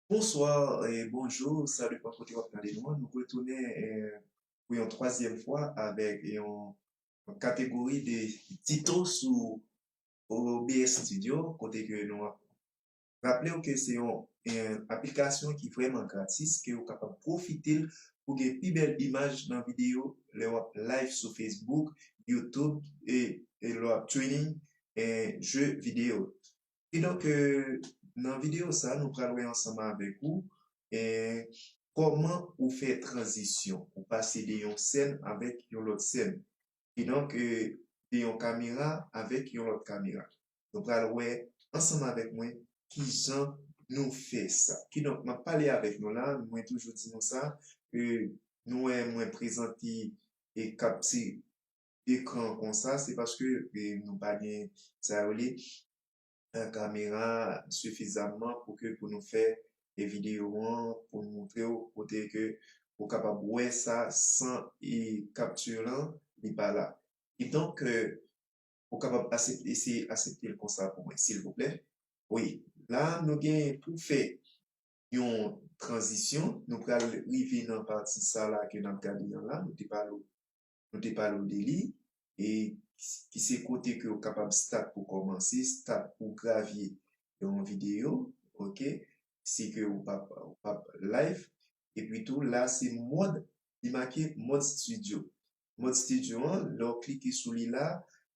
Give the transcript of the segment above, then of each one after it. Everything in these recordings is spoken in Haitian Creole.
Bonsoir et bonjour sa depan kote wap gade nou an nou retounen pou yon twazyèm fwa avèk yon kategori de tito sou OBS studio kote ke nou ap Raple w ke se yon aplikasyon ki vrèman gratis ke ou kapab pwofite l pou gen pi bèl imaj nan videyo lè w ap live sou Facebook, YouTube e lè w ap training je videyo. Kidonk nan videyo sa nou pral wè ansanm avèk ou kòman ou fè tranzisyon, ou pase de yon sèn avèk yon lòt sèn. Kidonk de yon kamera avèk yon lòt kamera. Nou pral wè ansanm avèk mwen ki jan nou fè sa. Kidonk, m ap pale avèk nou la, mwen toujou di nou sa, ke nou wè mwen prezante e kapti ekran konsa, se paske nou pa gen sa yo rele kamera sifizamman pou ke pou nou fè videyo an, pou nou montre ou kote ke ou kapab wè sa san e kapti lan li pa la. Kidonk, ou kapab asepte eseye aseptel konsa pou mwen silvouplè wi la nou gen pou fè yon tranzisyon nou pral rive nan pati sa la ke nap gade an la nou te pale w nou te pale w de li e ki se kote ke ou kapab start pou kòmanse start pou gravye yon video ok si ke ou pap ou pap live epi tou la se mòd li make mòd studio Mòd Studio an, lè w klike sou li la,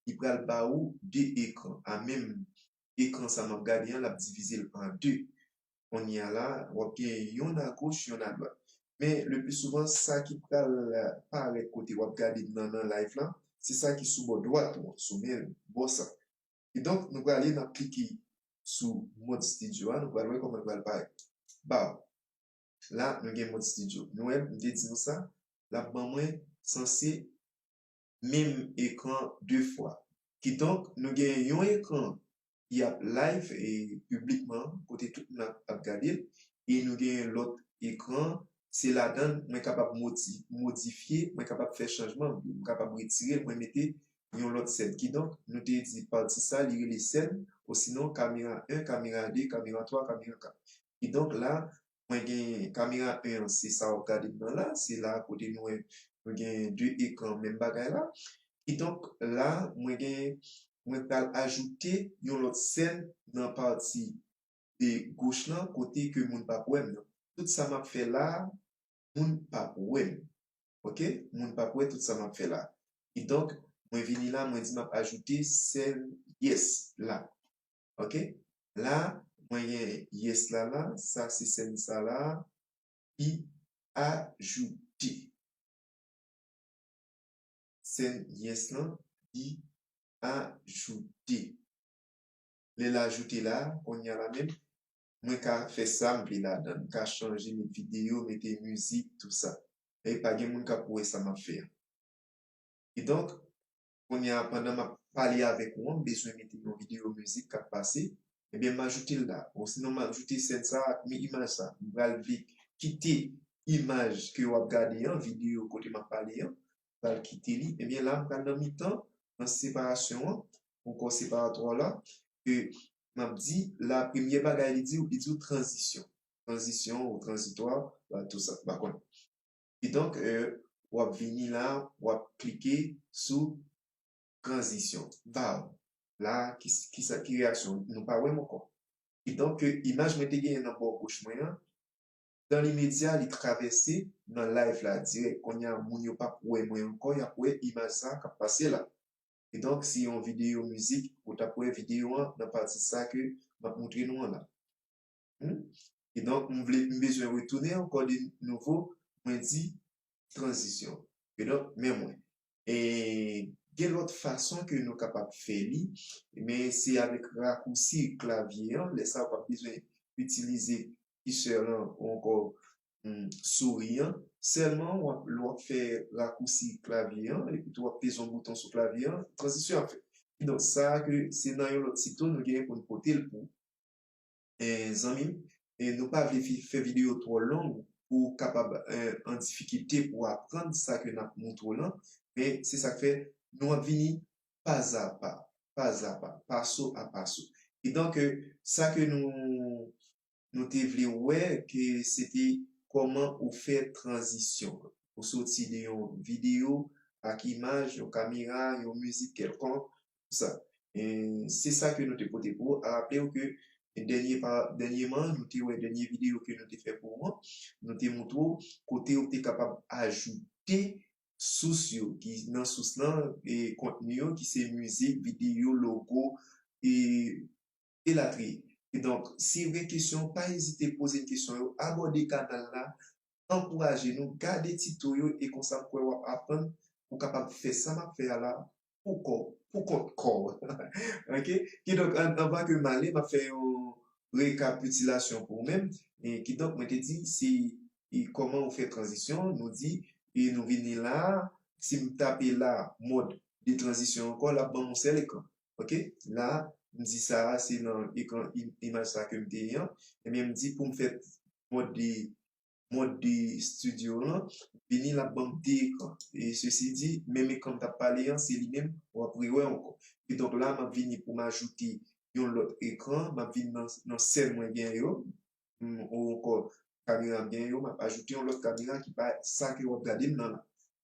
li pral ba ou 2 ekran a menm ekran sa m ap gade an l ap divize l an 2. Kounye a la, w ap gen yonn a goch, yonn a dwat. Men le pli souvan sa ki pral parèt kote w ap gade m nan nan live lan, se sa ki sou bò dwat ou an, sou men bò sa. Kidonk nou prale n ap klike sou Mòd Studio a, nou pral wè kòman l pral parèt ba ou. la nou gen mòd studio nou wè m te di nou sa lap ban mwen sanse menm ekran 2 fwa kidonk nou gen yon ekran ki ap live piblikman kote tout moun ap gade l e nou gen yon lòt ekran se ladan l mwen kapab modifye mwen kapab fè chanjman mwen kapab retire l mwen mete yon lòt sèn kidonk nou te di pati sa li rele sèn osinon kamera 1 kamera 2 kamera 3 kamera 4 ki donk la mwen gen kamera 1 an se sa wap gade m nan la se la kote nou wè nou gen 2 ekran menm bagay la ki donk la mwen gen mwen pral ajoute yon lòt sèn nan pati e goch lan kote ke moun pap wè m nan tout sa map fè la moun pap wè m ok moun pap wè tout sa map fè la ki donk mwen vini la mwen di map ajoute sèn yes la. ok la mwen gen yes la la sa se sèn sa la ki ajoute sèn yes lan ki ajoute lè l ajoute la konnya la menm mwen ka fè sa m vle ladan m ka chanje met video mete mizik tout sa e pa gen moun k ap wè sa m ap fè an kidonk Kounye a pandan map pale avèk ou an m bezwen mete yon video mizik kap pase ebyen m ajoute l la osinon m ajoute sèn sa ak mi imaj sa m pral vle kite imaj ke wap gade an video kote map pale an m pral kite li ebyen la m pral nan mitan nan separasyon an nan kò separatwa w la ke map di la premye bagay li di w li di w tranzisyon tranzisyon ou tranzitwa ou a tousa m pa konn. Kidonk, w ap vini la, w ap klike sou Tranzisyon. Baw! La, kisa ki reyaksyon w? Nou pa wè m ankò. Kidonk, imaj mwen te genyen nan bò goch mwen an, dan limedya li travèse nan layv la dirèk. Kounye a, moun yo pap wè mwen ankò, y ap wè imaj sa k ap pase la. Kidonk, si yon videyo mizik, ou t ap wè videyo an nan pati sa ke m ap montre nou an la. Hum ki donk m vle m bezwen retounen ankò de nouvo mwen di tranzisyon ki donk men mwen e gen lòt fason ke nou kapab fè li men se avèk rakousi klavye an lè sa ou pap bezwen itilize kisè lan ou ankò souri an sèlman lè wap fè rakousi klavye an epi tou wap peze yon bouton sou klavye an tranzisyon ap fèt ki donk sa ke se nan yon lòt site nou gen pou nou pote l pou ou. Zanmim nou pa vle fè video twò long pou ou kapab an difikilte pou aprann sa ke nap moutre w lan men se sak fè nou ap vini pazapa pazapa paso a paso e donk sa ke nou nou te vle wè ke se te kòman ou fè tranzisyon ou soti de yon video ak imaj yon kamera yon mizik kèlkonk sa. Se sa ke nou te pote pou ou. A raple ou ke dènyeman, nou te wè dènye videyo ke nou te fè pou ou an, nou te moutre ou kote ou te kapab ajoute sous yo. Ki nan sous lan, kontni yo ki se mizik, videyo, logo, elatriye. Kidonk, si ou gen kesyon, pa ezite poze kesyon yo, abòde kanal la, ankouraje nou, gade tito yo e konsa m kwè w ap aprann, ou kapab fè sa m ap fè a la, pou kò w, pou kont kò w. Ok, kidonk anvan ke m ale, m ap fè yon rekapitilasyon pou ou menm. Kidonk mwen te di se kòman ou fè tranzisyon, nou di e nou vini la a, si m tape la a mòd de tranzisyon ankò l ap ban m yon sèl ekran. Ok, la a m di sa a se nan ekran imaj sa a ke m te ye an, ebyen m di pou m fè mòd de mond de studio lan vini lap banm 2 ekran e sesi di menm ekranm tap pale an se li menm wap rewè ankò e donk la map vini poum ajoute yon lòt ekran map vin nan sèl mwen gen yo ou ankò kameram gen yo map ajoute yon lòt kamera ki pa sa ke wap gadem nan la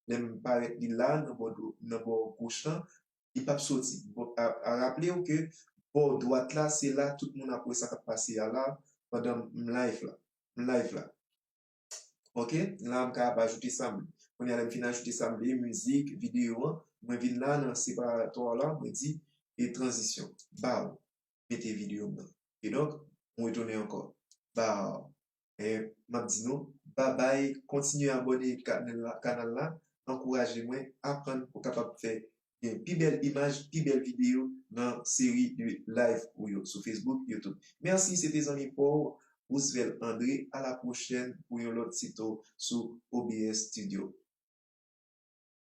lèm parèt li la nan bò dwòp nan bò goch lan li pap soti a raplew ke bò dwat la se la tout moun ap wè sa kap pase a la pandan m live la. live la ok la m ka ap ajoute sa m vle kounya lè m fin ajoute sa m vle mizik videyo an mwen vin la nan separatò la mwen di e tranzisyon baw mete videyo m nan kidonk m retounen ankò baw e m ap di nou babay kontinye abòne kanal la ankouraje mwen aprann pou kapab fè gen pi bèl imaj, pi bèl video nan seri de live ou yo sou Facebook, YouTube. Merci se te zanmi pa w Roosevelt André a la pwochèn pou yon lòt tito sou OBS Studio.